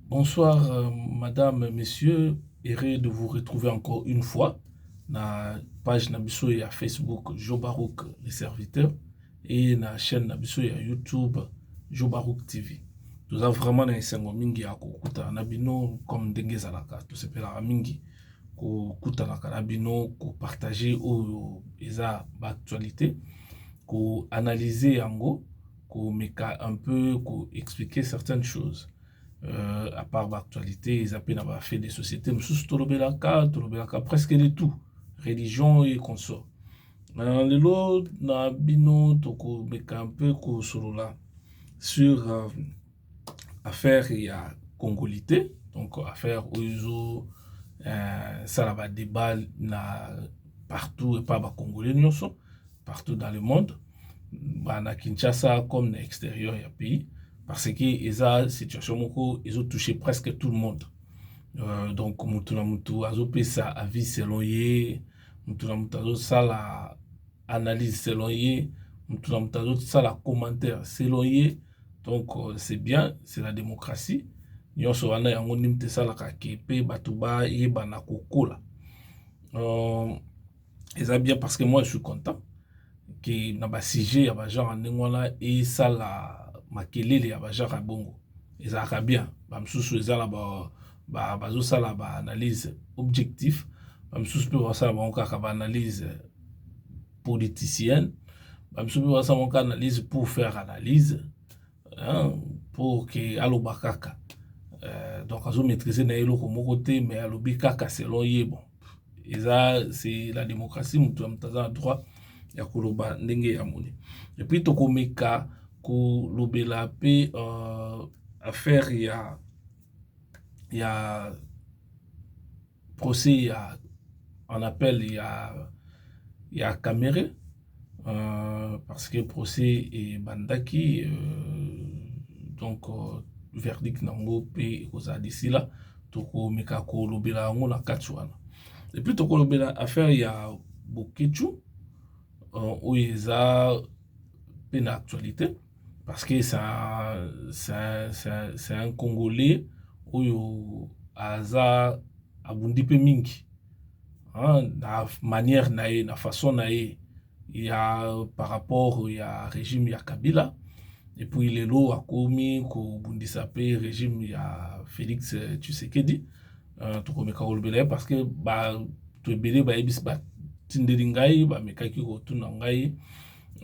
Bonsoir madame monsieur heureux de vous retrouver encore une fois na page na biso ya Facebook Joe Baruch le serviteur et na chaîne na biso ya YouTube Joe Baruch TV toza vraiment na esengo mingi ya kokutana na bino comme ndenge ezalaka tosepelaka mingi kokutanaka na bino kopartage oyo eza baactualité koanalyse yango ko meka un peu ko expliquer certaines choses euh, à part ba actualité eza pe na ba fait des sociétés mosusu tolobelaka tolobelaka presque de tout religion et consort euh, lelo na bino toko meka un peu ko solola sur euh, affaire ya congolite donc affaire oyo ezo euh, sala ba débat na partout epa ba congolais nyonso partout dans le monde ba na kinshasa comme na extérieur ya pays parce que eza situation moko ezo toucher presque tout le monde euh, donc motu na motu azopesa avis selon ye motu na motu azosala analyse selon ye motu na motu azosala commentaire selon ye donc euh, c'est bien c'est la démocratie nyonso wana yango nini te esalaka ke mpe bato bayebana kokola euh, eza bien parce que moi je suis content ke na basujet ya bagenre ya ndenge wana esala makelele ya bagenre ya bongo ezalaka bien bamosusu eza na bazosala baanalyse objectif bamosusu mpe basala bango kaka baanalyse politicienne bamisu mpe basalaka analyse pour faire analyse hein, pour ke aloba kaka euh, donc azo maîtrise na ye eloko moko te mais alobi kaka selon ye bon eza c'est la démocratie moto ya moto aza na droit ya koloba ndenge ya moni epuis tokomeka kolobela mpe uh, affaire ya ya procès ya en appel ya ya Kamerhe euh, parce que procès ebandaki euh, donc euh, verdict nango mpe ekozala d'ici là tokomeka kolobela yango na kati wana epuis tokolobela affaire ya boketshu euh, oyo eza mpe na actualité parce que ça ça ça c'est un congolais oyo aza abundi mpe mingi hein, na manière na ye na façon na ye ya par rapport ya régime ya kabila et puis lelo akomi kobundisa mpe régime ya félix tshisekedi uh, tokomeka kolobela ye parce que bato ebele bayebisi batindeli ngai bamekaki kotuna ngai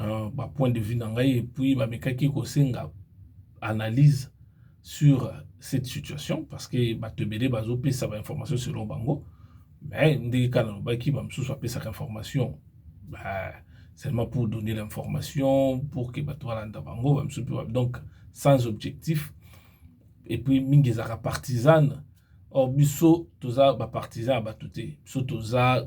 euh, ba point de vue na ngai epuis bamekaki kosenga analyse sur cette situation parce que bato ebele bazopesa bainformation selon bango mais ndenge kaka nalobaki bamosusu bapesaka information bah, seulement pour donner l'information pour que bato balanda bango bamosusu mpe donc sans objectif et puis mingi ezalaka partisane or biso toza bapartisan ya bato te biso toza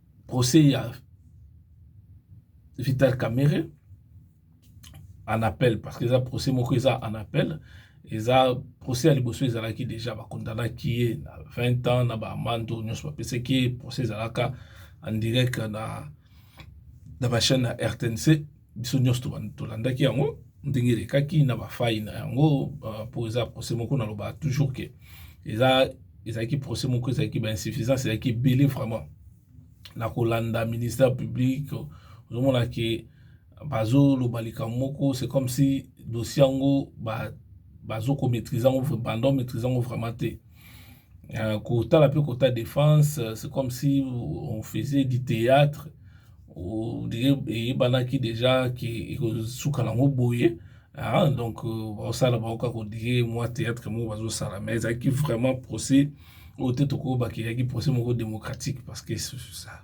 procès ya Vital Kamerhe en appel parce que eza procès moko eza en appel eza procès ya liboso ezalaki déjà bakondanaki ye na 20 ans na baamande oyo nyonso bapesaki ye procès ezalaka en direct na, na bachaine ya rtnc biso nyonso tolandaki yango ndenge elekaki na bafai na yango mpo euh, eza procès moko nalobaka toujours ke eza ezalaki procès moko ezalaki bainsuffisance ezalaki ebele vraiment na kolanda ministère public ozomona ke bazoloba likambo moko c'est comme si dossier yango bazokomaîtrise yango bando maîtrise yango vraiment te euh, kotala mpe kota défense euh, c'est comme si on faisait du théâtre eyebanaki déjà ke ekosuka nango boye ah, donc euh, baosala bango kaka odire mwa théâtre moko bazosala mais ezalaki vraiment procès oyo te tokoki bakeyaki procès moko démocratique parce que ça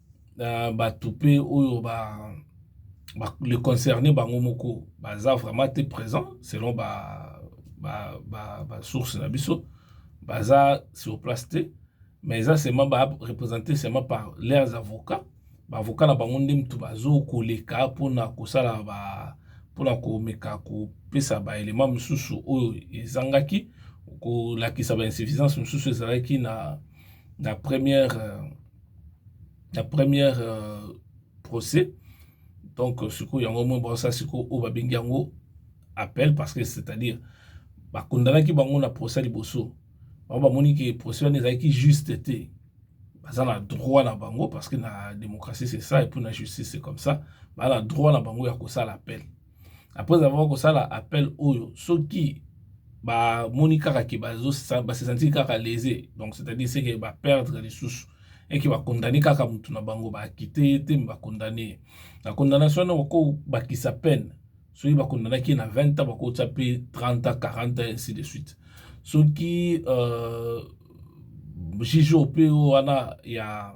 na bato mpe oyo ba, ba le concerne bango moko baza vraiment te présent selon ba ba ba, ba source na biso baza sur place te mais eza seulement ba représenter seulement par leurs avocats ba avocats na bango nde mutu bazo koleka mpona kosala ba mpona komeka kopesa ba element mosusu oyo ezangaki kolakisa ba insuffisance mosusu ezalaki na na première euh, na première euh, procès donc euh, sikoyo yango moi baosala sikoyo oyo babengi yango appel parce que c'est-à-dire bakundalaki bango na procès liboso bango bamoni ke procès wana ezalaki juste te baza na droit na bango parce que na démocratie c'est ça et puis na justice c'est comme ça baa na droit na bango ya kosala appel après avoir kosala appel oyo soki bamoni kaka ke basesantiki kaka lese donc c'est-à-dire seke baperdre lisusu eke bakondane kaka motu na bango baakite ye te me bakondane ye na condamnation yango bakobakisa peine soki bakondanaki ye na 20 ans bakotya mpe 30 ans 40 ans ainsi de suite soki euh, juge oyo mpe wana ya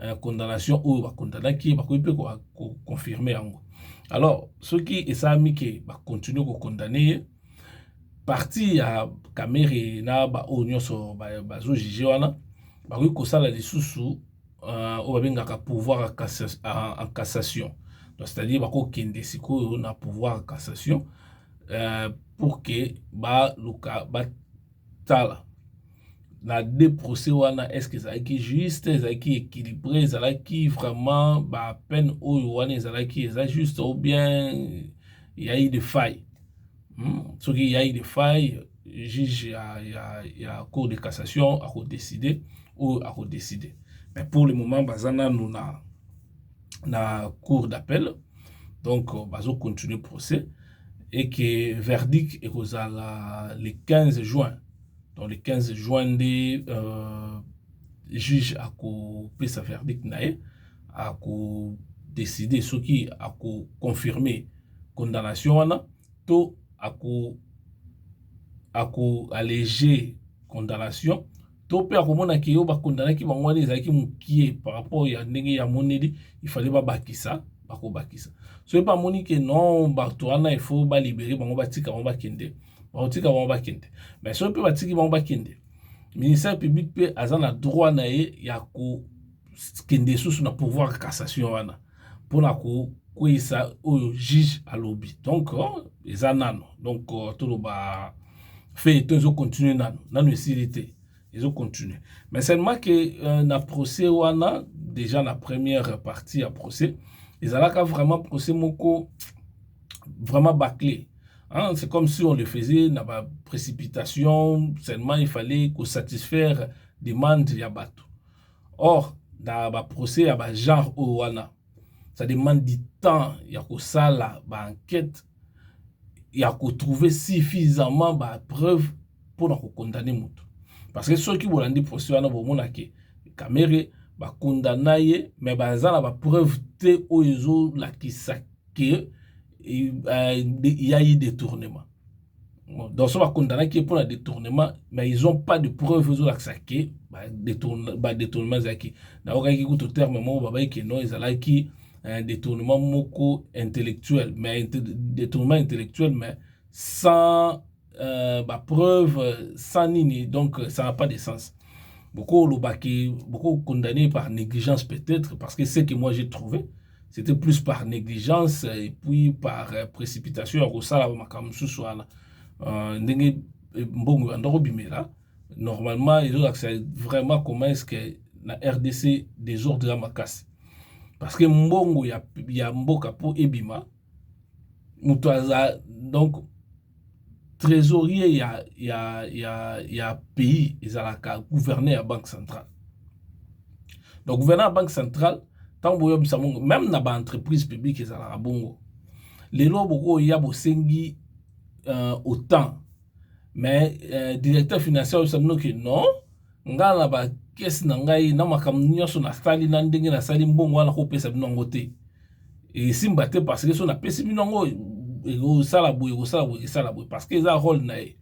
euh, condamnation oyo ba condamnaki bakoki mpe ko confirmer yango alors soki esalami ke ba continuer ko condamner ye parti ya kamere na baoyo nyonso bazo juge wana bakoki kosala lisusu euh, oyo babengaka pouvoir en cassation donc c'est-à-dire bakokende sikoyo na pouvoir en cassation euh, pour ke baluka batala na deux procès wana est ce que ezalaki juste ezalaki équilibré ezalaki vraiment ba peine oyo wana ezalaki eza juste ou bien yai de faille hmm? soki yai de faille juge ya, ya, ya cour de cassation akodécide oyo akodécide mais pour le moment baza nanu na, na cour d'appel donc euh, bazo continuer procès et que verdict ekozala le 15 juin donc le 15 juin nde euh, juge akopesa verdict na ye akodeside soki akoconfirme condamnation wana to ako akoallege condamnation to mpe akomona ke yo bakondanaki bango wana ezalaki mokie par rapport ya ndenge ya moneli ifale babakisa bakobakisa soki bamoni ke non bato wana ifo balibere bango batika bango bakende bakotika bango bakende mais soki mpe batiki bango bakende ministère public mpe aza na droit na ye ya kokende susu na pouvoir cassation wana mpona kokweyisa oyo juge alobi donc oh, eza nano donc oh, toloba feuilleton ezo continue nano nano esili te ezo continue mais seulement ke euh, na procès wana déjà na première partie ya procès ezalaka vraiment procès moko vraiment bâclé. Hein, c'est comme si on le faisait na ba précipitation, seulement il fallait ko satisfaire demande ya bato. Or, na ba procès ya ba genre oyo wana, ça demande du temps ya kosala ba enquête ya ko trouver suffisamment ba preuve mpo na ko condamner moto. Parce que soki bolandi procès wana bomona ke Kamere ba condamna ye mais baza na ba preuve te oyo ezolakisa que il y a eu détournement donc so bakondanaki ye mpo na détournement mais ils ont pas de preuve ezolakisa ke badétournement ezalaki naokaki kutu terme moko babai ke non ezalaki un détournement moko intellectuel mais détournement intellectuel mais sans euh, ba preuve sans nini donc euh, ça n'a pas de sens beaucoup lobaki beaucoup condamné par négligence peut-être parce que ce que moi j'ai trouvé c'était plus par négligence et puis par euh, précipitation ya kosala makambo mosusu wana euh, ndenge euh, mbongo ebanda kobimela normalement ezolakisa vraiment comment est ce que na rdc désordre ya makasi parce que mbongo ya, ya mboka mpo ebima moto aza donc trésorier ya, ya, ya, ya pays ezalaka gouverneur ya banque centrale donc gouverneur ya banque centrale ntango boyobisa bongo meme na baentreprise publique ezalaka bongo lelo bokoya bosengi euh, autant mais euh, directeur financier oyebisa bino ke non ngai na bakesi na ngai na makambo nyonso nasali na ndenge nasali mbongo wana kopesa bino yango te esimba te parce que so napesi bino yango ekosala boye ekosala boye ekesala boye parce que eza role na ye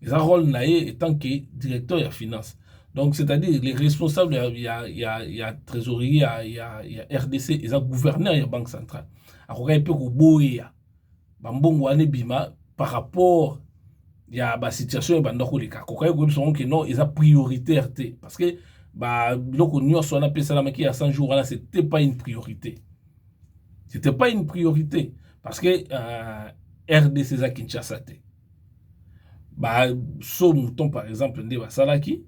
eza role na ye etant que directeur ya finance donc c'est-à-dire les responsables ya, ya, ya, ya trésorier ya, ya, ya rdc eza gouverneur ya banque centrale akokaki mpe koboya bambongo wana ebima par rapport ya basituation ebanda koleka kokaki koyebisa yango ke non eza prioritaire te parce que biloko nyonso wana mpe esalamaki ya 100 jours wana c'était pas une priorité c'était pas une priorité parce que euh, rdc eza kinshasa te baso mouton par exemple nde basalaki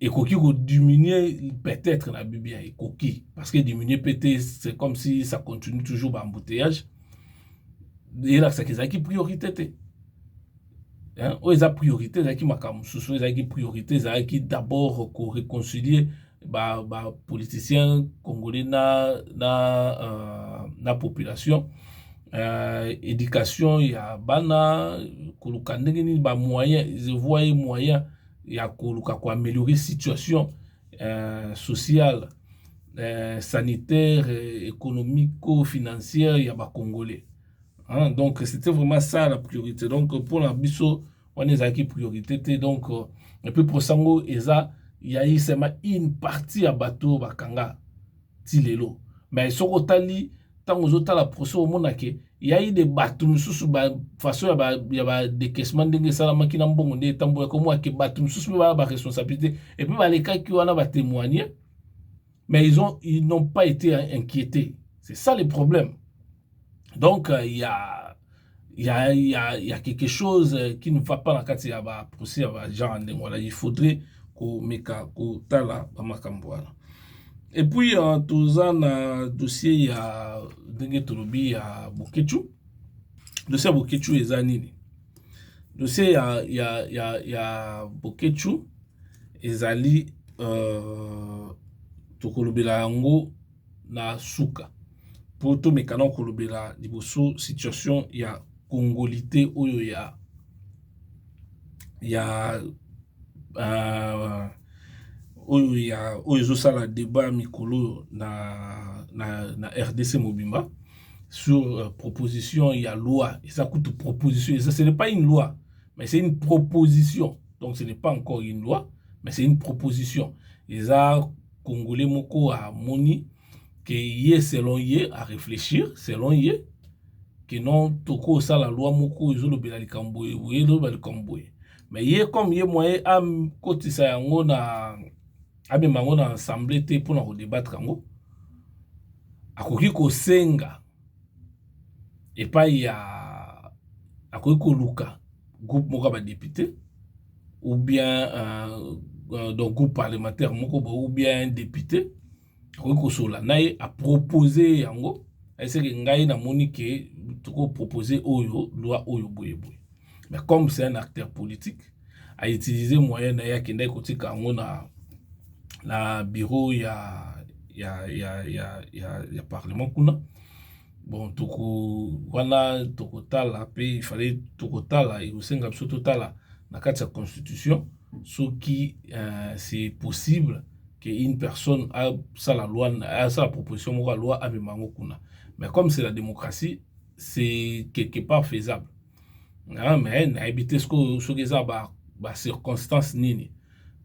Ekoki ko diminuer peut-etre na bi bien ekoki parce que diminuer pe te c'est comme si ça continue toujours ba embouteillages elakisaka ezalaki priorité te hein? oyo eza priorité ezalaki makambo mosusu ezalaki priorité ezalaki d'abord ko réconcilier ba, ba politiciens congolais na, na, euh, na population euh, éducation ya bana koluka ndenge nini ba moyen je vois ye moyen ya koluka ko ameliorer situation euh, sociale euh, sanitaire économico financière ya ba congolais hein? donc c'était vraiment ça la priorité donc mpona biso wana ezalaki priorité te donc euh, et puis mposa yango eza yayi sema une partie ya bato bakanga ti lelo mais soki otali ntango ozotala procès omona ke yai de bato mosusu façon ya badekesement ndenge esalamaki na mbongo nde etambolaki omona ke bato mosusu mpe baya baresponsabilité epuis balekaki wana batemoigne mais ils ont ils n'ont pas été inquiétés c'est ça le problème donc euh, ya il y a, il y a, il y a quelque chose euh, qui ne va pas na kati ya ba procès ya ba gens ndenge wana il faudrait komeka kotala bamakambo wana et puis uh, toza na dossier ya ndenge tolobi ya bokechu dossier ya bokechu eza nini dossier ya, ya, ya, ya bokechu ezali uh, tokolobela yango na suka po to meka nao ko lobela liboso situation ya congolite oyo ya ya uh, oyo ya oyo ezo sala debat mikolo na na na RDC mobimba sur euh, proposition ya loi eza kutu proposition eza ce n'est pas une loi mais c'est une proposition donc ce n'est pas encore une loi mais c'est une proposition eza congolais moko amoni ke ye selon ye a reflechir selon ye ke non tokosala loi moko ezolobela likambo boye boye ezoloba likambo boye me ye comme ye moye akotisa yango na amema yango na assemble te mpona kodebattre yango akoki kosenga epayi ya akoki koluka groupe moko ya ba depute ou bien donc groupe parlementaire moko boye ou bien un depute akoki kosolola na ye a proposer ye yango aye seke ngai namoni ke toko proposer oyo loi oyo boye boye. mais comme c'est un acteur politique a utiliser moyen na ye akendaki kotika yango na na bureau ya ya ya ya ya, ya parlement kuna bon toko wana tokotala mpe ifale tokotala ekosenga biso totala na kati ya constitution soki uh, c'est possible que une personne asala loi asala proposition moko ya loi amema yango kuna mais comme c'est la démocratie c'est quelque part faisable ah, mais nayebi te sikoyo soki eza ba, ba circonstance nini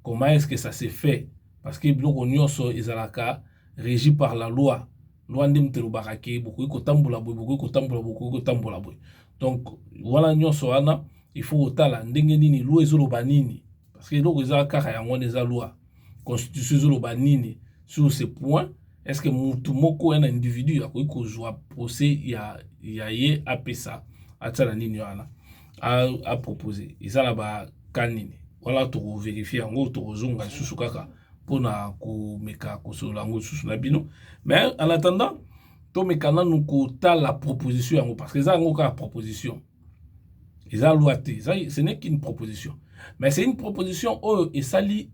comment est ce que ça se fait parce que biloko nyonso ezalaka régi par la loi loi nde moto elobaka ke bokoki kotambola boye bokoki kotambola boye bokoki kotambola boye donc wana nyonso wana il faut kotala ndenge nini loi ezoloba nini parce que eloko eza kaka yango wana eza loi constitution ezoloba nini sur ce point est ce que mutu moko un individu akoki kozwa procès ya, ya ye apesa atia na nini wana apropose eza na baka nini wana tokoverifie yango tokozonga lisusu kaka mpona komeka kosolola yango lisusu na bino mais en attendant tomeka nanu kotala proposition yango parce que eza yango kaka proposition eza loi te eza ce n'est qu'une proposition mais c'est une proposition oyo esali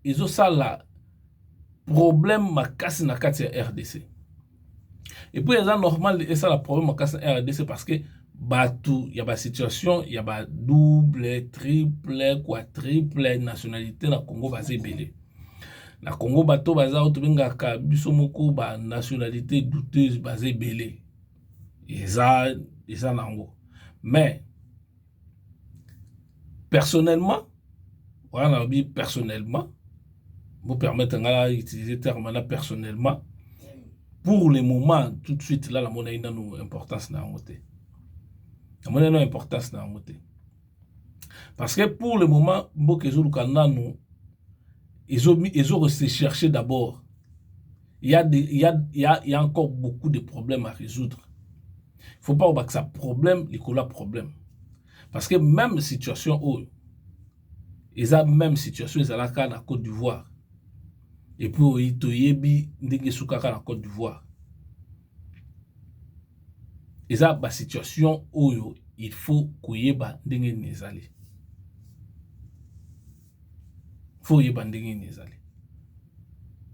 ezosala problème makasi na kati ya rdc epuis eza normal esala problème makasi na rdc parce que bato ya basituation ya badouble triple quatriple nationalité na congo baza ebele na congo bato baza oyo tobengaka biso moko banationalité douteuse baza ebele eza eza nango mais personnellement wana nalobi personnellement bopermettre ngai na utiliser terme wana personnellement pour le moment tout de suite la namonaki nano importance na yango te namonaki nano importance na yango te parce que pour le moment mboka ezoluka nano ezo, ezo se chercher d'abord il y a des, il y a, il y a, il y a encore beaucoup de problèmes à résoudre faut pas obakisa problème likolo ya problème parce que même situation oyo eza même situation ezalaka na côte d'ivoire epuis oyi toyebi ndenge esukaka na côte d'ivoire eza basituation oyo il faut koyeba ndenge nini ezali faut oyeba ndenge nini ezali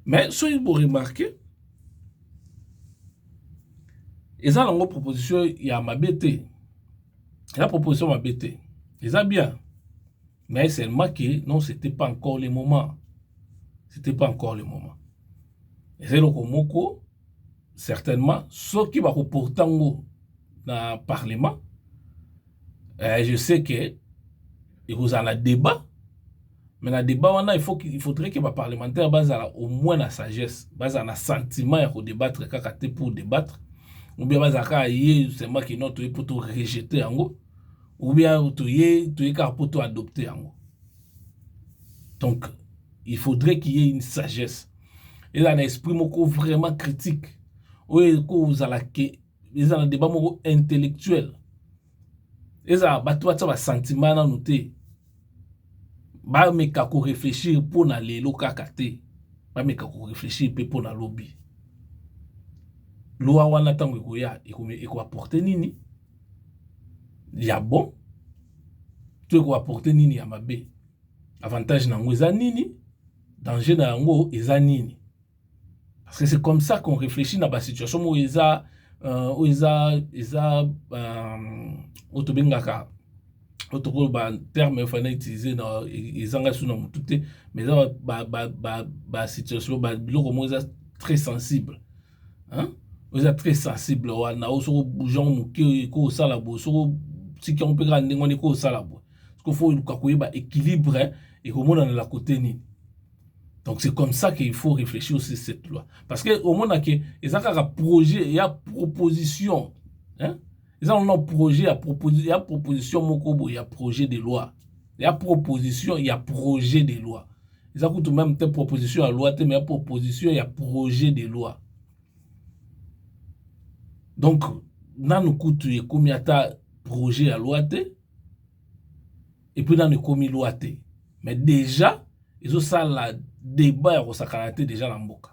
mais soki bo remarquer eza nango proposition ya mabe te eza proposition mabe te eza bien mais seulement que non c'était pas encore le moment c'était pas encore le moment eza eloko moko certainement soki bako porta ngo na parlement eh, je sais que ekozala na débat mais na débat wana il, faut, il faudrait que baparlementaire bazala au moins na sagesse bazala na sentiment ya kodebattre kaka te pour debattre ou bien bazala kaka ye seulement kino toye mpo to rejete yango ou bien toye toye kaka mpo to adopte yango donc il faudrait qu'il y ait une sagesse ezala na esprit moko vraiment critique oyo ekozala ke eza na debat moko intellectuel ezala bato batya basentiment nanu te bameka koreflechir mpo na lelo kaka te bameka koreflechir mpe mpo na lobi lwa wana ntango ekoya ekoaporte nini ya bon to ekoaporte nini ya mabe avantage na yango eza nini danger na yango eza nini parce que c'est comme ça qu'on réfléchit na ba situation oyo eza euh, oyo eza eza euh, oyo tobengaka oyo tokoloba terme efai na utilise na ezanga su na motu te mais eza basituation biloko moko eza très sensible hein? oyo eza très sensible wana oyo soki obouge yango moke ekoki kosala boye soki otika yango mpe kaka ndenge wana ekoki kosala boye siko faut oluka koyeba équilibre ekomona na la côté nini donc c'est comme ça qu'il faut réfléchir aussi cette loi parce que omona ke eza kaka projet ya proposition hein? eza nano projet ya, proposi ya proposition moko boye ya projet de loi ya proposition ya projet de loi eza kutu meme te proposition ya loi te mais ya proposition ya projet de loi donc nanu kutu ekomi ata projet ya loi te epuis nanu ekomi loi te mais dejà ezosala debat ya kosakana te dejà na mboka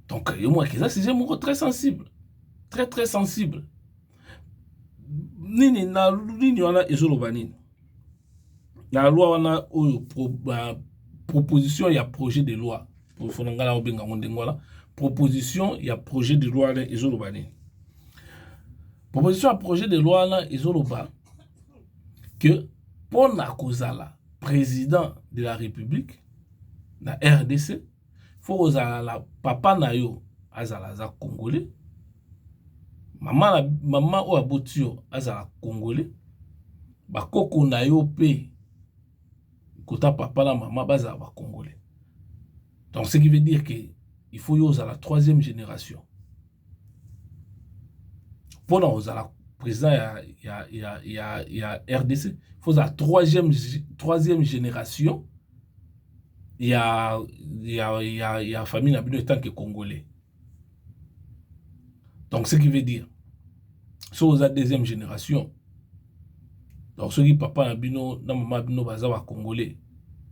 donc yo moko eza sujet moko très sensible très très sensible nini na nini wana ezoloba nini na loi wana oyo pro, ba, proposition ya projet de loi ofona ngai naobenga yango ndenge wana proposition ya projet de loi wana ezoloba nini proposition ya projet de loi wana ezoloba que mpo na kozala président de la république na rdc faut kozala na papa na yo azala aza congolais mama na mama oyo aboti yo azala congolais bakoko na yo mpe kota papa na mama bazala ba congolais donc ce qui veut dire que il faut yo ozala troisième génération pona kozala président ya, ya, ya, ya, ya RDC faut ozala troisième, troisième génération ya, ya, ya, ya famille na bino etant que congolais donc ce qui veut dire so oza deuxième génération donc soki papa na bino na mama na bino baza ba congolais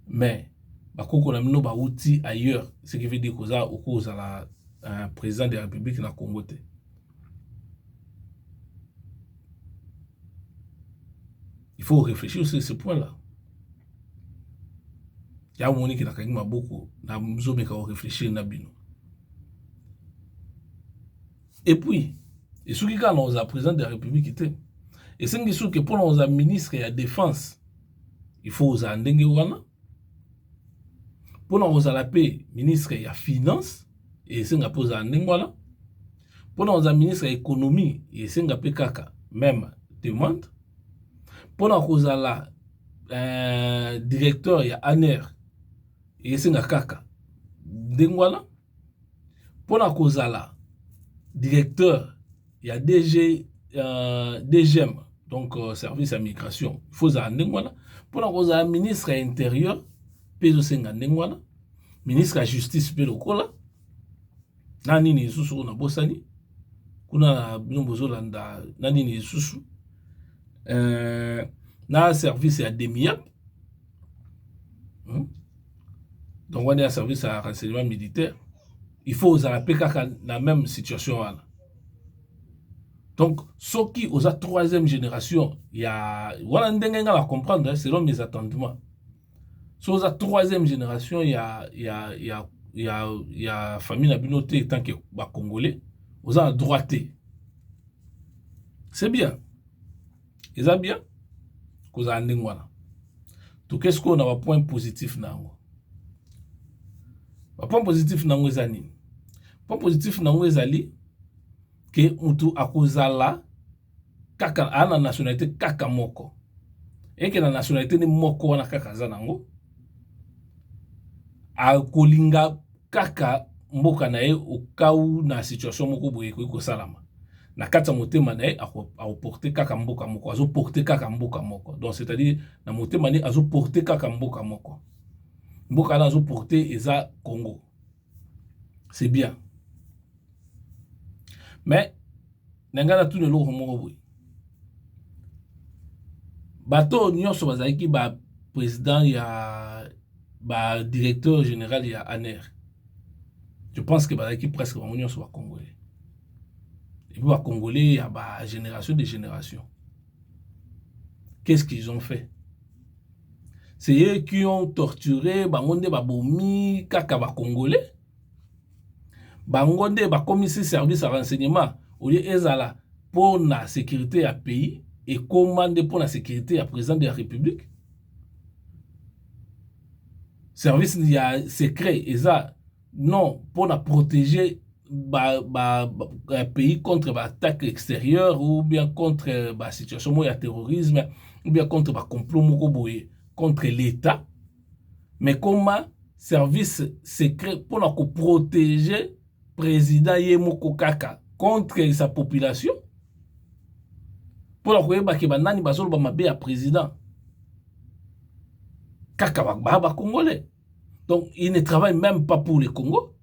mais ba koko na bino bawuti ailleurs ce qui veut dire que oza okoki kozala euh, président de la république na congo te il faut réfléchir sur ce point là ya omoni ke nakangi maboko nazomeka korefléchir na bino epuis esuki kaka na kozala président de la république te esengi soki mpona kozala ministre ya défense il faut ozala ndenge wana mpona kozala mpe ministre ya finance esenga mpe ozala ndenge wana mpona kozala ministre ya économie esenga mpe kaka meme demande mpona kozala euh, directeur ya aner esenga kaka ndenge wana mpo na kozala directeur ya DG, uh, euh, DGM donc uh, service ya migration il faut ozala ndenge wana mpo na kozala ministre ya interieur mpe ezosenga ndenge wana ministre ya justice mpe lokola na nini lisusu oyo nabosani kuna na bino bozolanda na nini lisusu uh, na service ya demiap hmm? donc wana ya service ya renseignement militaire il faut ozala mpe kaka na même situation wana donc soki oza troisième génération ya wana ndenge nga na comprendre selon mes attendements so oza troisième génération ya, ya, ya, ya, ya famille na bino te etant ke bacongolais oza na droit te c'est bien eza bien kozala ndenge wana toke sikoyo na bapoint positif na yango bapoint positif na yango eza nini point positif na yango ezali ke motu akozala kaka aa na nationalité kaka moko eke na nationalité nde moko wana kaka aza nango akolinga kaka mboka na ye okau na situation moko boye ekoki kosalama na kati ya motema na ye akoporte kaka mboka moko azoporte kaka mboka moko donc c'est-à-dire na motema na ye azoporte kaka mboka moko mboka wana azoporte eza congo c'est bien mais na ngai natuna eloko moko boye bato oyo nyonso bazalaki ba président ya ba directeur général ya aner je pense que bazalaki presque bango nyonso ba congolais epuis ba congolais ya ba génération de génération qu'est ce qu'ils ont fait c'est eux qui ont torturé bango nde babomi kaka ba congolais bango nde bakomisi service ya renseignement olie ezala mpo na securite ya pays ekoma nde mpo na securite ya president de la republique service ya secret eza non mpo na proteger ba, ba, ba, ba pays contre ba attaque extérieure ou bien contre ba situation moko ya terrorisme ou bien contre ba complot moko boye contre l'état mais koma service secret pona ko protege president ye moko kaka contre sa population pona koyeba ke banani bazoloba mabe ya president kaka ba ba congolais donc il ne travaille meme pas pour le congo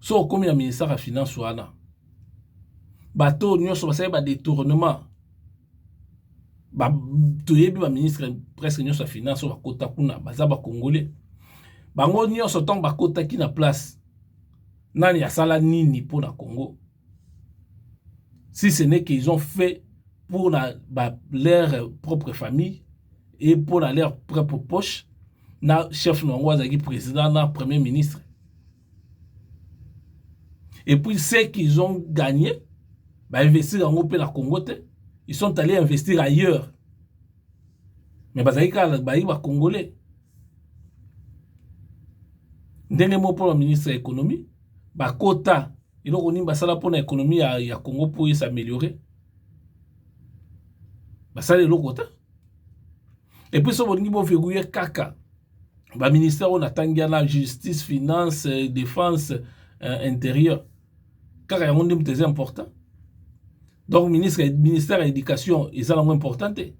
soki okomi na ministère ya finance wana bato oyo nyonso basali badetournement ba, toyebi baministre presque nyonso ya finance oyo bakota kuna baza bakongole bango nyonso ntango bakotaki na place nani asala nini mpo na congo si ce n'est qu'ils ont fait pour la, ba, leur propre famille et pour la, leur propre poche na chef na yango azalaki président na premier ministre et puis ce qu'ils ont gagné bainvestir yango mpe na congo te ils sont allés investir ailleurs mais bazalaki kaka bayi bacongolais ndenge moko mpo na ministre ya économie ba kota eloko nini basala mpona ekonomi ya, ya congo mpo esa ameliore basala eloko te epuis so bolingi boverrouye kaka baministère oyo natangi yana justice finance euh, défense euh, intérieur kaka yango nde moto eza important donc ministre ministère ya éducation eza nango important te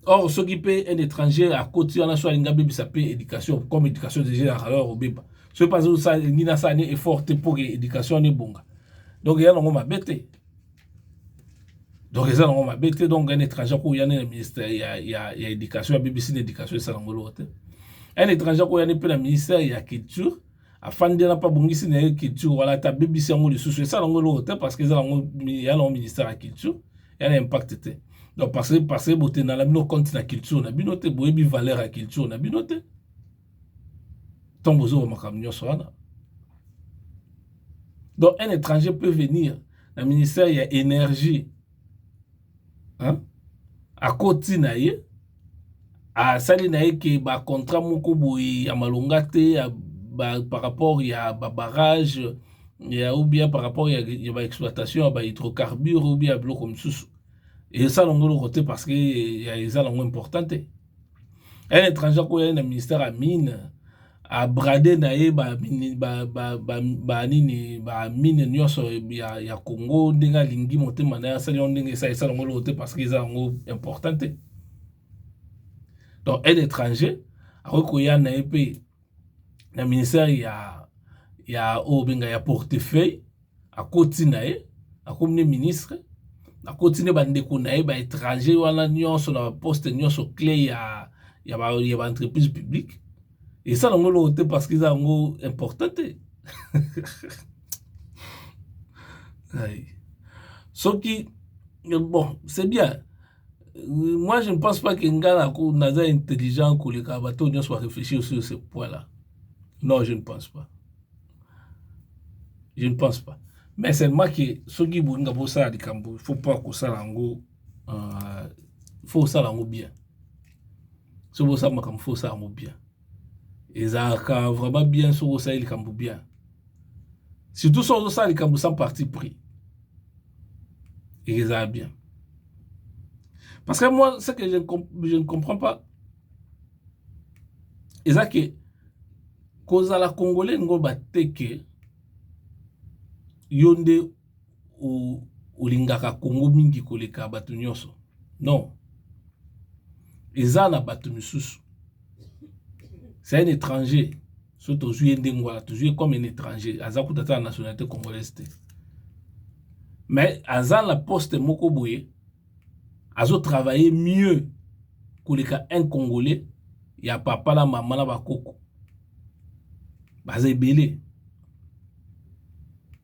Or soki pe un étranger akoti wana so alingi abebisa pe education comme education deja ezalaka alors obeba soki pe azosala elingi nasala ni effort te pour education wana ebonga donc eza nango mabe te donc eza nango mabe te donc un étranger akoya nde na ministère ya, ya, ya education abebisi na education esala yango eloko te un étranger akoya nde mpe na ministère ya culture afandi na mpe abongisi na ye culture wana te abebisi yango lisusu esala yango eloko te parce que eza yango ya nango ministère ya culture ya na impact te donc parce que parce que botenda na bino compte na culture na bino te boyebi valeur ya culture na bino te ntango bozoba makambo nyonso wana donc un étranger peut venir na ministère ya énergie hein akoti na ye asali na ye ke ba contrat moko boye ya malonga te ya ba par rapport ya ba barrage ya ou bien par rapport ya ba exploitation ya ba hydrocarbures ou bien ya biloko mosusu esala ngo eloko te parce que eza nango important te. un étranger akoya ye na ministère ya mine a brade na ye ba nini ba mine nionso ya Congo ndenge alingi motema na ye asali yango ndenge esali esala yango eloko te parce que eza yango important te donc un étranger akoki koya na ye pe na ministère ya ya oyo benga ya portefeuille akoti na ye akomi nde ministre akoti nde bandeko na ye baétranger wana nyonso na baposte nyonso cle ya ya baentreprise publique esala yango eloko te parce que eza yango important te soki bon c'est bien moi je ne pense pas que nga naza intelligent koleka bato oyo nyonso barefléchir sur ce point là non je ne pense pas je ne pense pas mais seulement que soki bolinga bosala likambo il faut pas kosala yango euh, faut osala yango bien soki bosala makambo faut osala yango bien ezalaka vraiment bien soki osali likambo bien surtout soki ozosala likambo sans parti pris ezala bien parce que moi ce que je, je ne comprends pas eza ke kozala congolais ngo bateke yo nde olingaka Congo mingi koleka bato nyonso non eza na bato misusu c'est un étranger so tozwi ye ndenge wana tozwi ye comme un étranger aza kuta ata na nationalité congolaise te mais aza na poste moko boye azo travailler mieux koleka un congolais ya papa na mama na bakoko baza ebele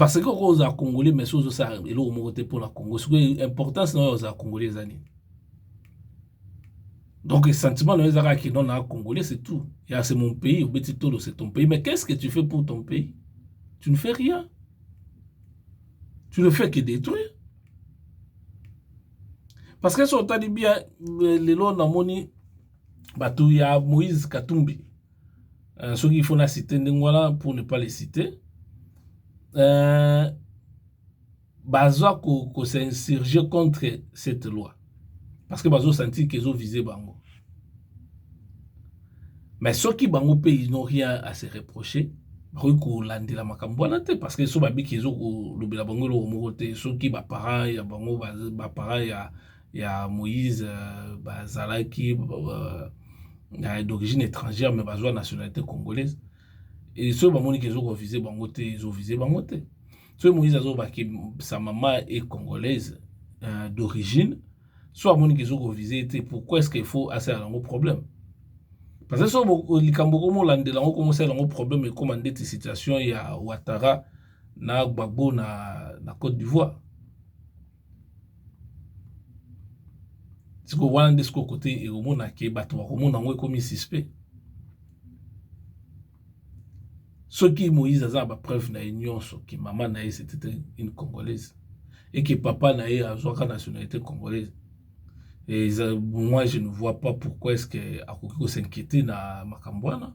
Parce que okoki kozala congolais mais soki ozosala eloko moko te mpo na congo soki importance na oyo ozala congolais eza nini donc sentiment na yo eza kaka kino na congolais c'est tout ya c'est mon pays obeti tolo c'est ton pays mais qu'est ce que tu fais pour ton pays tu ne fais rien tu ne fais que détruire parce que soki otali bien euh, lelo namoni bato ya moïse katumbi euh, soki il faut na cite ndenge wana pour ne pas les citer euh, baza ko, ko s'insurger contre cette loi parce que bazo sentir qu'ils ont visé bango mais soki bango mpe ils n'ont rien à se reprocher bakoki kolandela makambo wana te parce que so babiki ezokolobela bango eloko moko te soki baparent ya bango baparent ya ya Moïse euh, bazalaki euh, na d'origine étrangère mais bazwa nationalité congolaise et soki bamoni ke ezokovise bango te ezovise bango te soki Moïse azobaki sa mama e congolaise euh, d'origine so amoni ke ezokovise te pourquoi est-ce qu'il faut asala yango problème parce que so likambo komolandela yango komosala yango problème ekoma ndeti situation ya Ouattara na Gbagbo na, na Côte d'Ivoire sikoyo wana nde sikoyo kote ekomona ke bato bakomona yango ekomi suspect soki moïse aza na bapreuve na ye nyonso ke mama na ye c'était une congolaise et que papa na ye azwaka nationalité congolaise et moi je ne vois pas pourquoi est ce que akoki ko s'inquiéter na makambo wana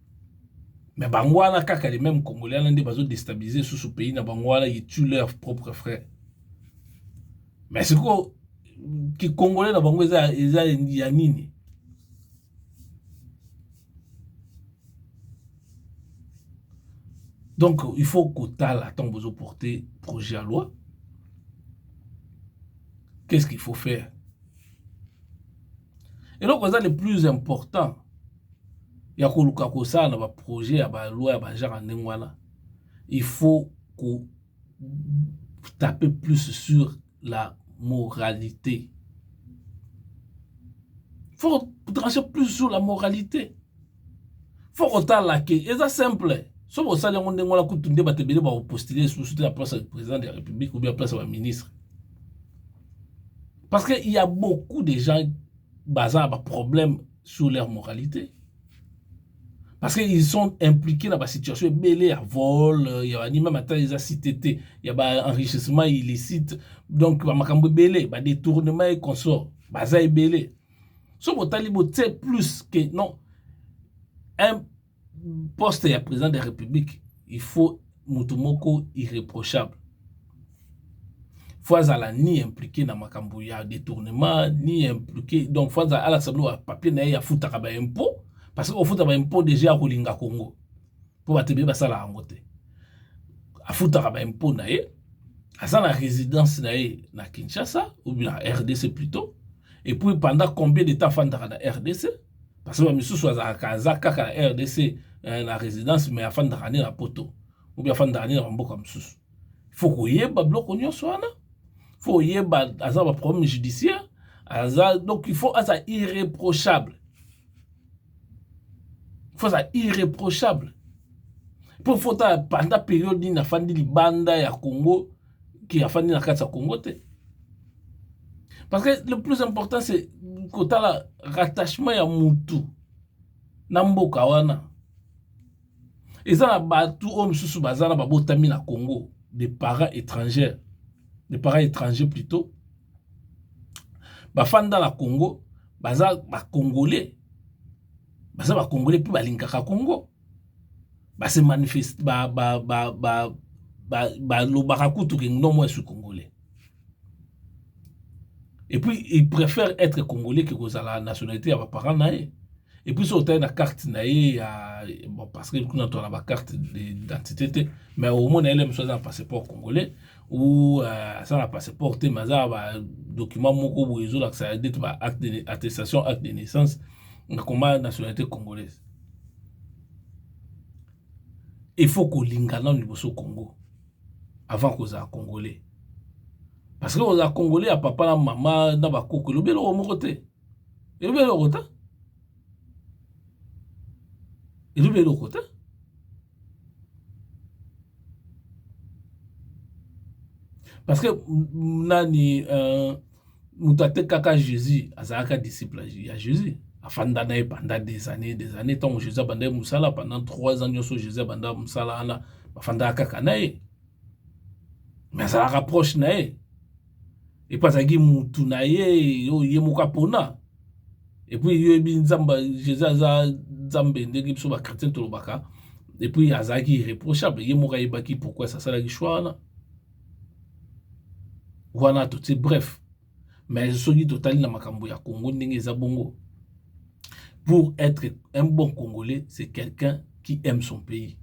mais bango wana kaka les mêmes congolais wana nde bazo destabiliser susu pays na bango wana ils tuent leur propre frère mais sikoyo kikongole na bango eza, eza ya nini donc il faut kotala ntango bozoporte projet ya loi qu'est ce qu'il faut faire eloko eza le plus important ya koluka kosala ba projet ya ba loi ya ba genre ya ndenge wana il faut ko taper plus sur la moralité faut trancher plus sur la moralité faut kotala ke eza simple soki osali yango ndenge wana kutu nde bato ebele bakopostile lisusu te na place ya président de la république ou bien place ya baministre parce que il y a beaucoup de gens baza na baproblème sur leur moralité parce que ils sont impliqués na basituation ebele ya vol euh, ya banima mata eza cité te ya baenrichissement illicite donc bamakambo ebele badetournement e consort baza ebele soki botali botie plus que non un poste ya president de la republique il faut moto moko irreprochable faut azala ni impliqué na makambo ya détournement ni impliqué donc faut azala alakisa bino bapapier na ye afutaka baimpôt parce que ofuta baimpôt déjà akolinga congo mpo bato ebele basala yango te afutaka baimpôt na ye aza na résidence na ye na kinshasa ou bien na rdc plutôt et puis pendant combien de temps afandaka na rdc Parce que misusu azalaka aza kaka na RDC eh, na residence mais afandaka nde na poto ou bien afandaka nde na bamboka mosusu fo koyeba biloko nyonso wana fo koyeba aza baproblème judiciaire aza donc il faut aza irréprochable faut aza irréprochable mpo fo otala panda periode nini afandi libanda ya congo qui afandi na kati ya Congo te parce que le plus important c'est kotala rattachement ya mutu na mboka wana eza na bato oyo mosusu baza na babotami na Congo des parents étrangers des parents étrangers plutôt bafanda na Congo baza ba Congolais baza ba Congolais mpe balingaka Congo ba se manifeste ba ba ba ba ba balobaka kutu ke non moi je suis congolais et puis il préfère être congolais que kozala nationalité ya ba parents na ye et puis soki otali na carte na ye ya bon parce que kuna tozala ba carte d'identité te mais omona ele mosusu aza na passeport congolais ou euh, aza na passeport te mais aza ba document moko boye ezolakisa dete ba acte de attestation acte de naissance na koma nationalité congolaise Il faut kolinga nanu liboso Congo avant kozala congolais parce que kozala congolais ya papa na mama na ba koko elobi eloko moko te elobi eloko te elobi eloko te. Parce que nani euh, moto atekaka Jésus azalaka disciple ya Jésus afanda na ye pendant des années des années ntango Jésus abanda ye mosala pendant trois ans nyonso Jésus abanda mosala wana bafandaka kaka na ye mais azalaka proche na ye epuis azalaki mutu na ye oyo ye moko apona epuis yo yebi nzambe jesus aza nzambe ndenge biso ba chretien tolobaka epuis azalaki irreprochable ye moko ayebaki pourquoi asalaki choix wana wana totie bref mais soki totali na makambo ya congo ndenge eza bongo pour être un bon congolais c'est quelqu'un qui aime son pays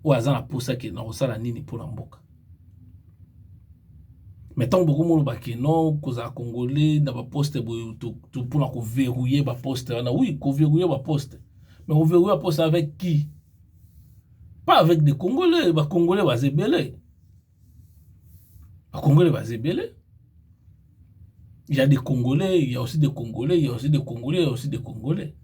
oyo aza na mposa ke nakosala nini mpo na mboka Mais tango boko mona ba ke non kozala congolais na ba poste boye pona ko verrouiller ba poste wana oui ko verrouiller ba poste mais ko verrouiller ba poste avec qui? pas avec des congolais ba congolais baza ebele ba congolais baza ebele ya des congolais ya aussi des congolais ya aussi des congolais ya aussi des congolais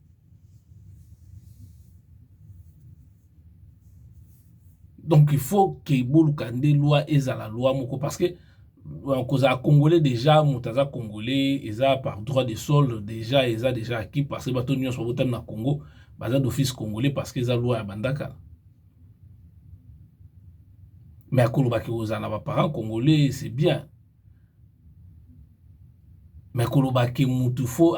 donc il faut que boluka nde loi ezala loi moko parce que euh, kozala congolais déjà moto aza congolais eza par droit de sol déjà eza déjà acquis parce que bato nyonso babotami na congo baza d'office congolais parce que eza loi ya bandakala mais akolobaki kozala na baparent congolais c'est bien mais koloba que mutu faut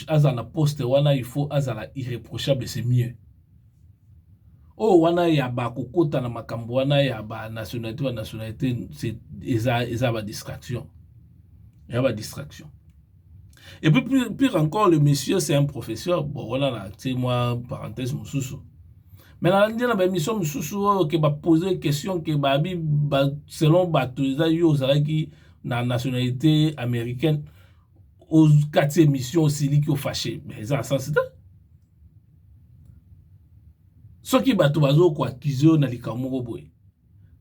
azala na poste wana il faut azala irreprochable c'est mieux oyo wana ya ba kokota na makambo wana ya ba nationalite ba nationalite eza ba distraction eza ba distraction et puis pire encore le monsieur c'est un professeur bon wana na tie mwa parenthèse mosusu mais nalandi na baémission mosusu oyo ke bapose question ke babi ba, selon bato eza yo ozalaki na nationalité américaine okati émission osiliki ofashe mais eza na sens te soki bato bazokoakize yo na likambo moko boye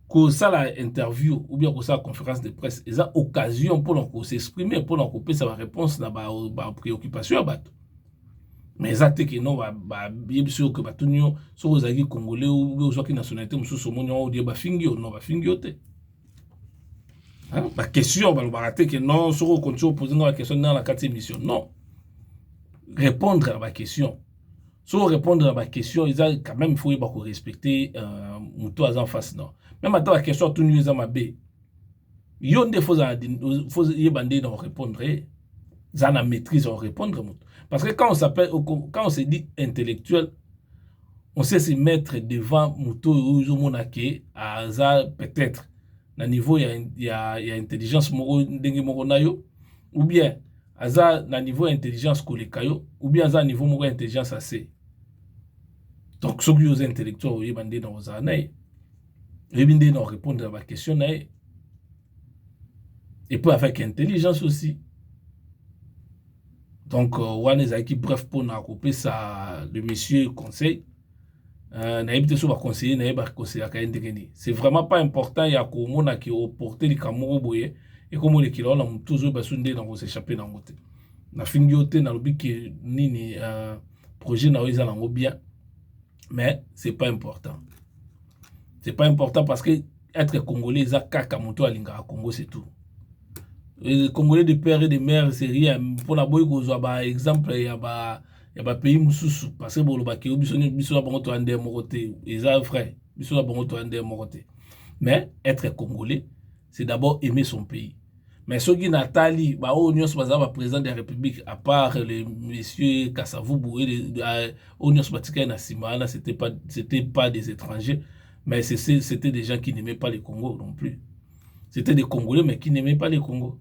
kosala interview ou bien kosala conférence de presse eza occasion mpona ko s'exprimer mpona kopesa ba réponse na ba, ba préoccupation ya bato mais eza te keno bayebisi yo ke batuni yo soki ozalaki congolais obe ozwaki nationalité mosusu omoni yango odie bafingi yo no bafingi yo te baquestion balobaka te ke non soki okonti opose nga baquestion nanga na kati émission non répondre na baquestion so répondre na baquestion eza quand même faut yeba korespecte euh, moto aza en face non meme ata baquestion atuni yo eza mabe yo nde fo yeba nde na korépondre ye za na maîtrise ya korépondre moto parce que quand on s'appelle quand on se dit intellectuel on sait se mettre devant moto oyo ozomona ke aza peut-être na niveau ya, ya, ya intelligence moko ndenge moko na yo ou bien aza na niveau ya intelligence koleka yo ou bien aza na niveau moko ya intelligence ase donc soki yo oza intellectuel oyeba nde na kozala na ye oyebi nde na orépondre ya baquestion na ye epuis avec intelligence aussi donc euh, wana ezalaki bref mpona kopesa le monsieur conseil Euh, nayebi te so baconseiller na ye bakonseyaka ye ndenge nini c'est vraiment pas important ya komona ke oporte likambo moko boye ekomolekela wana motu ozoyeba so nde nango sechappe nango te nafingi yo te nalobi ke nini euh, projet na yo eza nango bien mais c'est pas important c'est pas important parce que être congolais eza kaka motu alingaka congo c'est tout congolais de père et de mère c'est rien mpona boyi kozwa baexemple ya ba, ba ya ba pays mususu parce que boloba ke biso ni biso na bango to ande moko te eza vrai biso na bango to ande moko te mais être congolais c'est d'abord aimer son pays mais soki natali baoyo nyonso baza baprésident de la république à part le monsieur kasavubu oyo euh, nyonso batikali na nsima wana c'était pas, c'était pas des étrangers mais c'était des gens qui n'aimaient pas le congo non plus c'était des congolais mais qui n'aimaient pas le congo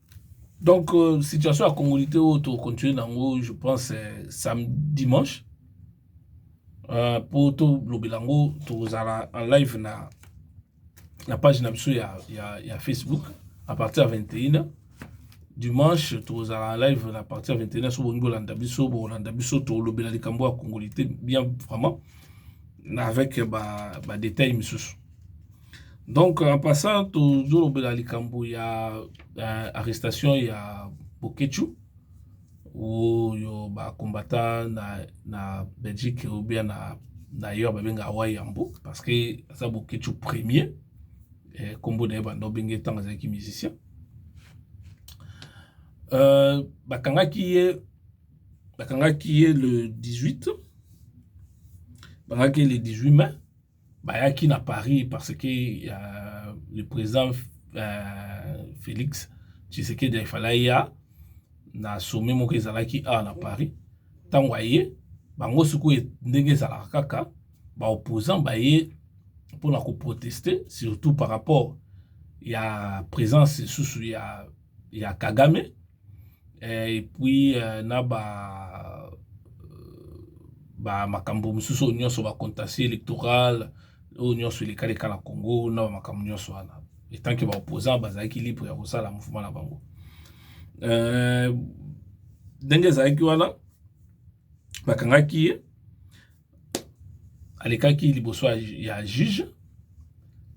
Donc euh, situation ya congolité oyo to continuer nango je pense euh, samedi dimanche euh, po to lobela yango tozala en live na na page na biso ya, ya, ya Facebook à partir ya 21h dimanche tozala live na partir ya 21 so bolingi bolanda biso bolanda biso tolobela likambo ya kongolite bien vraiment avec badetail ba misusu Donc en passant tozolobela likambo ya euh, arrestation ya Boketshu oyo bakombata na, na Belgique ou bien na d'ailleurs babenga awa yambo parce que aza Boketshu premier eh, kombo na ye banda obenge ntango azalaki musicien euh, bakangaki ye bakangaki ye le 18 bakangaki ye le 18 mai Bayaki na Paris parce que uh, le président uh, Félix Tshisekedi afala aya na sommet moko ezalaki awa na Paris. Ntango aye bango sikoyo ndenge ezalaka kaka ba opposants baye mpo na koproteste surtout par rapport ya présence lisusu ya ya Kagame eh, et puis euh, na ba euh, ba makambo mosusu oyo nyonso ba contentieux électoral oyo nyonso elekaleka na Congo na ba makambo nyonso wana etant que ba opposant bazalaki libre ya kosala mouvement na bango euh, ndenge ezalaki wana bakangaki ye alekaki liboso ya juge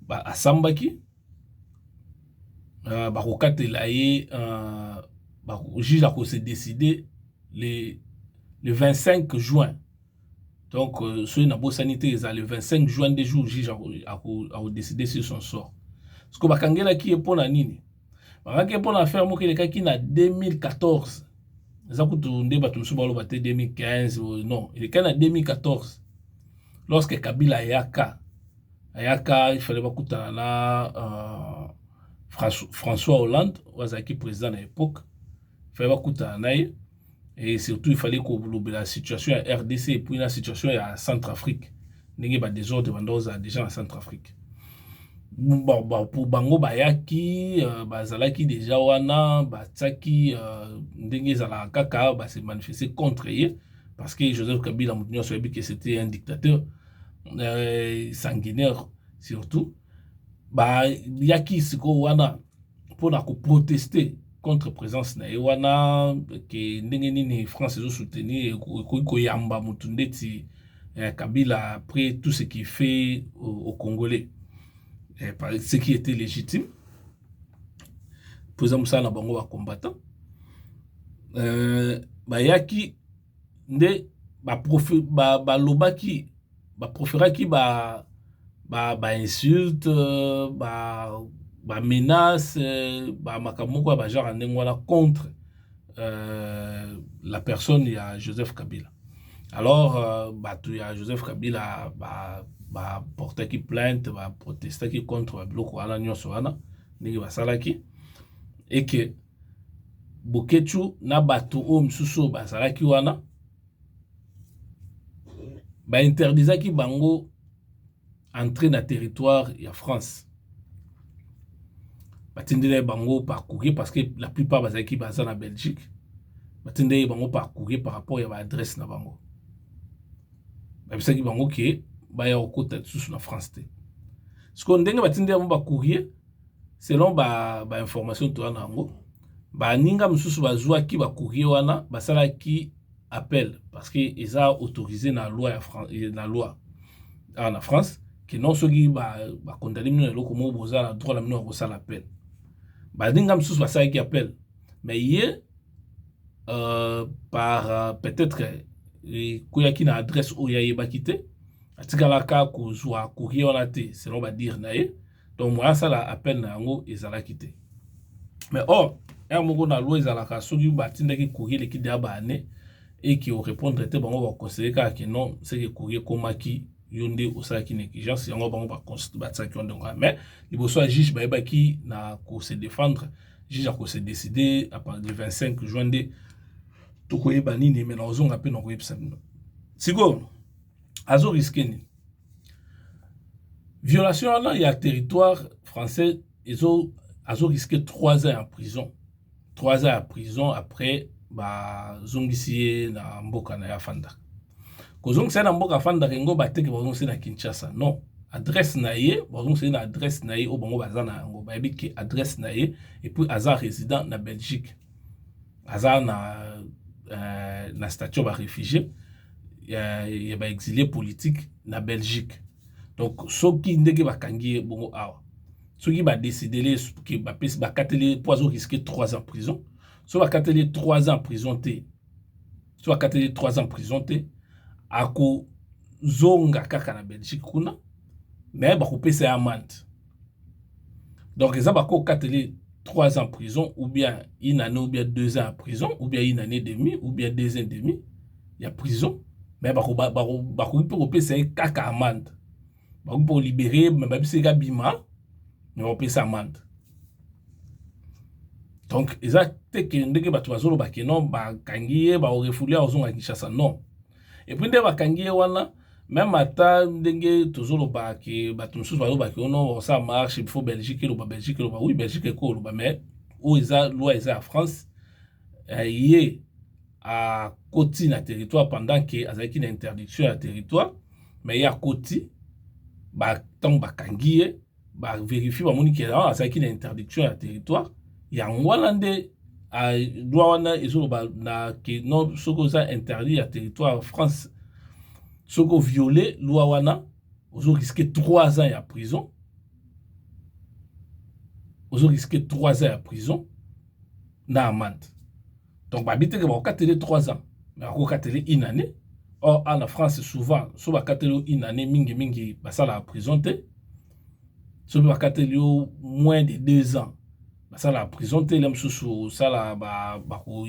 ba asambaki uh, bakokatela ye uh, ba, juge akose décider le, le 25 juin donc euh, soki nabosani te eza le 25 juin nde jour juge akodécide sur son sort sikoyo bakangelaki ye mpo na nini Bakaki mpo na affaire moko elekaki na 2014 eza kutu nde bato mosusu baloba te 2015 non elekaki na 2014 lorsque kabila ayaka ayaka ifale bakutana na uh, françois hollande oyo azalaki président na époque ifale bakutana na ye et surtout il fallait kolobela situation ya rdc epuis na situation ya centre afrique ndenge ba desordre banda ozala déjà na centre afrique pour bango bayaki euh, bazalaki déjà wana batiaki euh, ndenge ezalaka kaka base manifeste contre ye parce que joseph kabila moto nyonso ayebi que c'était un dictateur euh, sanguinaire surtout bayaki sikoyo wana mpo na koproteste contre présence na ye wana ke ndenge nini france ezo soutenir ekoki koyamba motu ndeti eh, kabila après tout ce qui fait au, au congolais eh, ce qui était légitime mpo eza mosala na bango bacombattant euh, bayaki nde balobaki ba proferaki ba insulte ba menace ba makambo moko ya ba genre ya ndenge wana contre la personne ya Joseph Kabila alors batu ya Joseph Kabila ba portaki plainte ba protestaki contre ba biloko wana nionso wana ndenge basalaki et que Boketshu na bato oyo misusu oyo bazalaki wana ba interdisaki bango entrer na territoire ya France. Batindela bango par courrier parce que la plupart bazalaki baza na Belgique. Batindela bango par courrier par rapport ya ba adresse na bango. Babisaki bango ke baya kokota lisusu na France te. Sikoyo ndenge batindela bango ba courrier Selon ba informations toza na yango baninga mosusu bazwaki ba courrier wana basalaki appel parce que eza autorisé na loi ya France, na loi awa na France que non soki ba ba condamner bino na eloko moko boza na droit na bino ya kosala appel. Baninga mosusu basalaki appel mais ye euh, par euh, peut-être ekweyaki na adresse oyo ayebaki te atikalaka kozwa courrier wana te selon ba dire na ye donc moyen asala appel na yango ezalaki te mais or heure moko na loi ezalaka soki batindaki courrier eleki deya ba année et que orépondre te bango baconsidere kaka ke non seke courrier ekomaki yo nde osalaki na exigence yango bango batisaki yo ndenge wana mais liboso ya juge bayebaki na kose défendre juge akose décide à partir du 25 juin nde tokoyeba nini me nakozonga mpe nakoyebisa bino sikoyo azo riske nini violation wana ya territoire français ezo azo risque 3 ans ya prison 3 ans ya prison après bazongisi ye na mboka na ye afandaka kozongisa ye na mboka afandaka yango bateke bazongisi na kinshasa non adresse na ye bazongisa ye na adresse na ye oyo bango baza na yango bayebi ke adresse na ye epuis aza résident na belgique aza na, euh, na statut ya baréfugie ya, ya ba exilie politique na Belgique donc soki ndenge bakangi ye bongo awa soki ba décidele ke bapesi bakateli ye mpo azo risque 3 ans prison so bakateli ye 3 ans prison te so bakateli ye 3 ans prison te akozonga kaka na Belgique kuna mais bakopesa ye amande donc eza bako okateli 3 ans prison ou bien une année ou bien 2 ans ya prison ou bien une année demi ou bien 2 ans demi ya prison mais bakoki bako, bako, bako, mpe kopesa ye kaka amande bakoki mpe kolibere ye me babisi ye kabima me bapesa amande donc eza te ke ndenge bato bazoloba ke non bakangi ye baorefule ye ozonga kinshasa non epuis nde bakangi ye wana meme ata ndenge tozoloba ke bato mosusu baloba ke ono oh osala marche il faut belgique eloba belgique eloba oui belgique ekoloba mais oyo eza loi eza ya france eh, ye akoti na territoire pendant ke azalaki na interdiction ya territoire mais ye akoti ntango bakangi ye ba verifie bamoni ke awa azalaki na interdiction ya territoire yango wana nde loi wana ezoloba na ke non soki oza interdit ya territoire france soki oviole loi wana ozo risque 3 ans ya prison ozo risque 3 ans ya prison na amande donc babi teke bakokatele 3 ans mais akokatele une année or a na france souvent so bakateli yo une année mingi mingi basalaka prison te soki bakateli yo moins de deux ans basalaka prison te le mosusu osala bako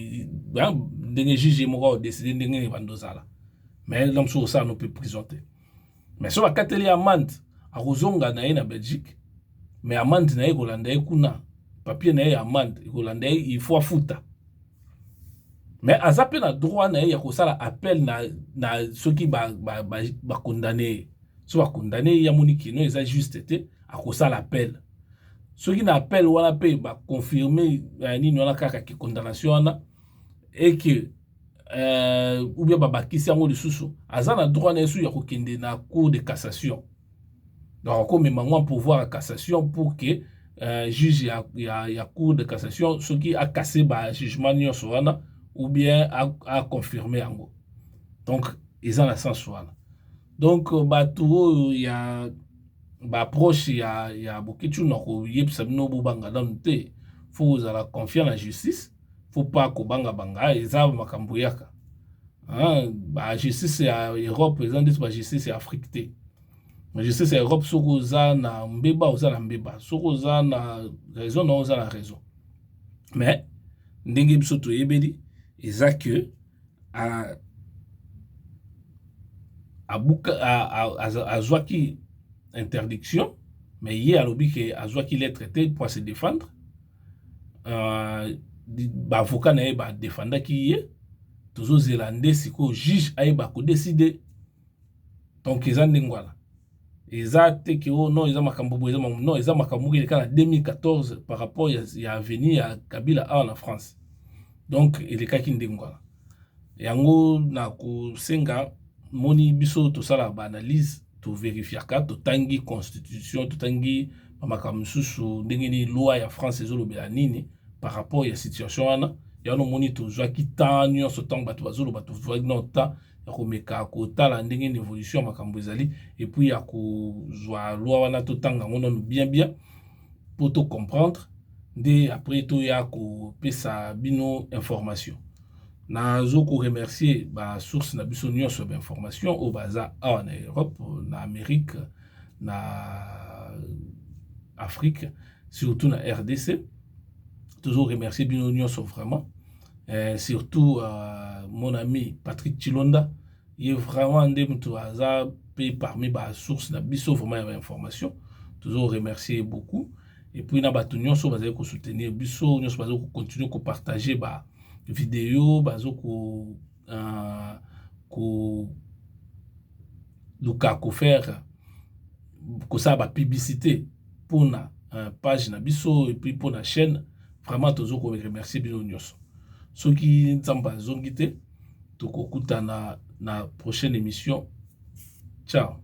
ndenge juge moko aodeside ndenge nini bando ozala mais le mosusu osala no mpe prison te mais so bakateli ye amande akozonga na ye na belgique mais amande na ye ekolanda ye kuna papier na ye ya amande ekolanda ye il faut afuta mais aza mpe na droit na ye ya kosala appel na, na soki bakondane ba, ba, ba ye so bakondane ye amoni kino eza juste te akosala appel soki na appel wana mpe baconfirme eh, nini wana kaka ke condamnation wana eke euh, ou bien babakisi yango lisusu aza na droit na yesu ya kokende na cour de cassation donc akomema yango pouvoir ya cassation pour que euh, juge ya, ya, ya cour de cassation soki akase bajugement nyonso wana ou bien aconfirme yango donc eza na sens wana donc euh, bato oyo ya baproche ya, ya boketshu na koyebisa bino bobanga nanu te fo ozala confiant na justice faut pas kobanga banga eza makambo yaka ba justice ya Europe eza ndeti ba justice ya Afrique te ba justice ya Europe soki oza na mbeba oza na mbeba soki oza na raison na oza na raison mais ndenge biso toyebeli eza que a abuka azwaki interdiction mais ye alobi ke azwaki lettre te mpo a se défendre ba avocat na ye ba defendaki ye tozo zela nde sikoyo juge ayeba ko decide donc eza ndenge wana eza te ke oh non eza makambu boye eza makambu non eza makambu moko elekaki na 2014 par rapport ya avenue ya kabila awa na France donc elekaki ndenge wana Yango na kosenga moni biso tosalaka ba analyse to verifiaka totangi constitution totangi ba makambo mosusu ndenge nini loi ya France ezolobela nini par rapport ya situation wana yango omoni tozwaki temps nyonso ntango bato bazoloba tozwaki no temps ya komeka kotala ndenge nini évolution ya makambo ezali epuis ya kozwa loi wana totanga yango nano bien bien po to comprendre nde après toya kopesa bino information nazo ko remercier ba source na biso nyonso ya ba information oyo baza awa na europe na amérique na afrique surtout na rdc tozo remercier bino nyonso vraiment eh, surtout uh, mon ami patrick chilonda Ye vraiment nde mutu aza pe parmi ba source na biso vraiment ya ba information tozo remercier ye beaucoup et puis na batu nionso bazali ko soutenir biso nionso bazali ko continuer ko partager ba video bazo ko uh, ko luka ko faire kosala ba publicité pona uh, page na biso et puis pona chaîne vraiment tozo ko remercier bino nionso soki nzambe azongi te tokokutana na prochaine emission ciao.